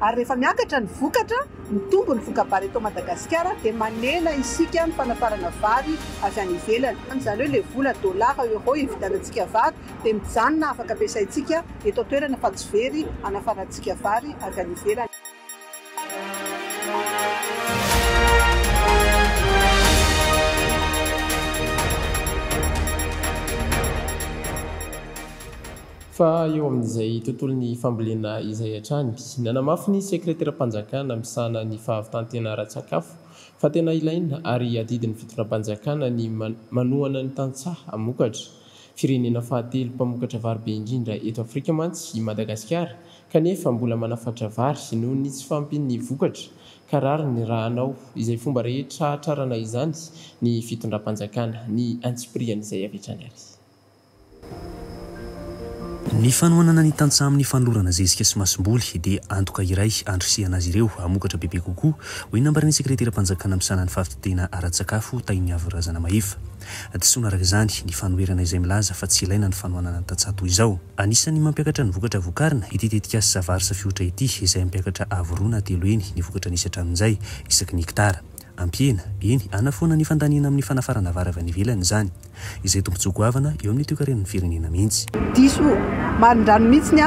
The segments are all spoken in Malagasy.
Ary rehefa miakatra ny vokatra, mitombo ny voka-bary eto Madagasikara, dia manena isika ny fanafarana vary avy any ivelany. Izany hoe ilay vola dollars, euros hividianantsika vary dia mijanona afaka ampiasaintsika eto an-toerana fa tsy very hanafarantsika vary avy any ivelany. Fa eo amin'izay tontolon'ny fambolena izay hatrany, nanamafy ny Sekreteram-panjakana misahana ny fahavitan-tena ara-tsakafo fa tena ilaina ary adidin'ny fitondram-panjakana ny manohana ny tantsaha hamokatra. Firenena fahatelo mpamokatra vary be indrindra eto Afrika mantsy i Madagasikara kanefa mbola manafatra vary noho ny tsy fahampian'ny vokatra ka rariny raha hanao izay fomba rehetra hahatrarana izany ny fitondram-panjakana. Ny antsipirihan'izay avy hatrany ary. Ny fanohanana ny tantsaha amin'ny fanolorana zezika sy masomboly dia antoka iray andrisihana azy ireo hamokatra bebe kokoa, hoy ny nambaran'ny sekreteram-panjakana misahana ny fahavididiana ara-tsakafo, Tainiavo Razanamahefa. Disoina araka izany ny fanoherana izay milaza fa tsy ilaina ny fanohanana ny tantsaha toy izao. Anisan'ny mampiakatra ny vokatra vokarina ity tetikasa Savaarsa Fiotra ity izay hampiakatra avo roa na telo heny ny vokatra nisy hatramin'izay isaky ny hektara. Ampiena, eny, hanafoana ny fandaniana amin'ny fanafarana vary avy any ivelany izany. Izay tombontsoa goavana eo amin'ny toekaren'ny firenena mihitsy. Diso marindrano mihitsy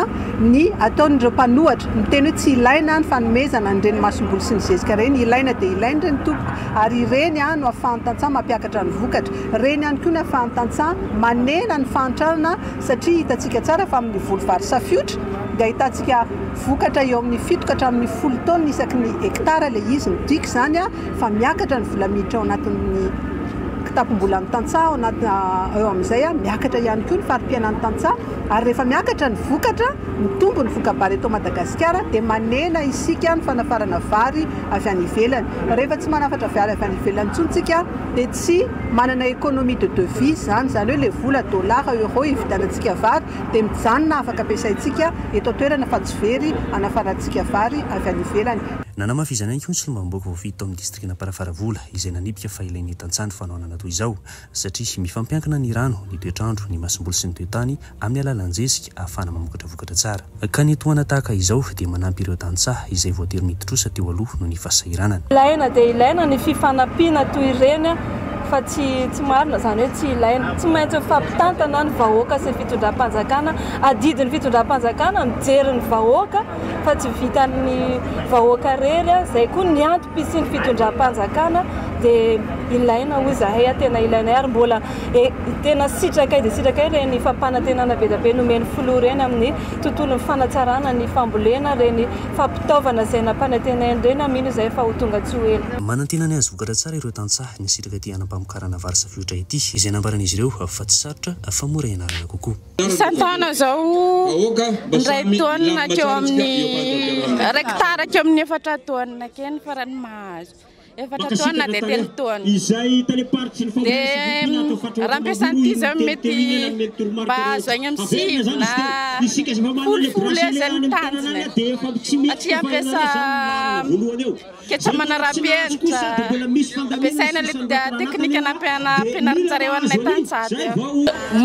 ny ataon'ireo mpanohatra, miteny hoe tsy ilaina ny fanomezana an'ireny masomboly sy ny zezika ireny, ilaina dia ilaina ireny tompoko ary ireny no ahafahan'ny tantsaha mampiakatra ny vokatra, ireny ihany koa no ahafahan'ny tantsaha manena ny fahantrana satria hitantsika tsara fa amin'ny voly vary safiotra dia ahitantsika Vokatra eo amin'ny fito ka hatramin'ny folo taonina isaky ny hektara ilay izy. Midika izany fa miakatra ny vola miditra ao anatin'ny kitapom-bolan'ny tantsaha ao anaty eo amin'izay miakatra ihany koa ny fari-piainan'ny tantsaha ary rehefa miakatra ny vokatra, mitombo ny voka-bary eto Madagasikara dia manena isika ny fanafarana vary avy any ivelany. Rehefa tsy manafatra vary avy any ivelany intsony isika dia tsy manana économie de devise izany, izany hoe ilay vola dollars, euros hividianantsika vary. dia mijanona afaka ampiasaintsika eto an-toerana fa tsy very hanafarantsika vary avy any ivelany. Nanamafy izany ihany koa ny solombavambahoaka voafidy tao amin'ny distrikan'Amparafaravola izay nanipika fa ilain'ny tantsaha ny fanohanana toy izao satria mifampiankina ny rano, ny toetr'andro, ny masomboly sy ny toetany amin'ny alalan'ny zezika ahafahana mamokatra vokatra tsara. Ka ny tohana tahaka izao dia manampy ireo tantsaha izay voatery niditrosa teo aloha noho ny fahasahiranana. Ilaina dia ilaina ny fifanampiana toy ireny fa tsy tsy marina izany hoe tsy ilaina tsy maintsy mifampitantana ny vahoaka sy ny fitondram-panjakana adidin'ny fitondram-panjakana mijery ny vahoaka fa tsy vitan'ny vahoaka rery izay koa ny antom-pisian'ny fitondram-panjakana dia ilaina hoy izahay tena ilainay ary mbola e, tena sitrakay dia sitrakay ireny fampanantenana be dia be nomen'ny filoha ireny amin'ny tontolon'ny fanatsarana ny fambolena ireny fampitaovana izay nampanantenainy ireny aho mino izahay fa ho tonga tsy ho ela. Manantena ny hahavokatra tsara ireo tantsaha. nisitraka ity hanam-pamokarana vary sy fiotra ity, izay nambaran'izy ireo fa tsy sarotra fa mora ianarana kokoa. Isan-taona izao, indray taonina hatreo amin'ny iray kitara hatreo amin'ny efatra taonina akeny ny farany mahazo. Efatra taonina dia telo taonina. Dia raha ampiasaina ity izao mety mba azo any amin'ny sivy na folo folo eo izay ny tanjona e. Satria ampiasa. Ketra manarapenitra, ampiasaina le teknika nampianarinjareo anay tany sady eo.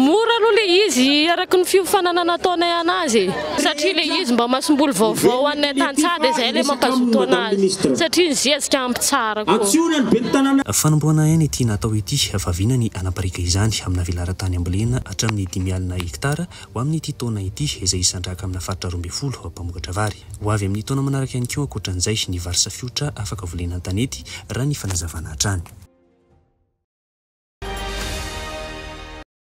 Mora aloha le izy araky ny fiofanana nataonay anazy e! Satria le izy mba masomboly vaovao anay tany sady e, zay le mampazoto anazy satria ny zezika ampy tsara koa. Fanombohana aina ity natao ity, vaviana ny hanapariaka izany amina velaran-tany ambolena hatramin'ny dimy alina hektara Ho amin'ity taona ity, izay hisandrahaka amina faritra roa ambin'ny folo mpamokatra vary. Ho avy amin'ny taona manaraka ihany koa ankoatran'izay ny vary safiotra afaka volena an-tanety, raha ny fanazavana hatrany.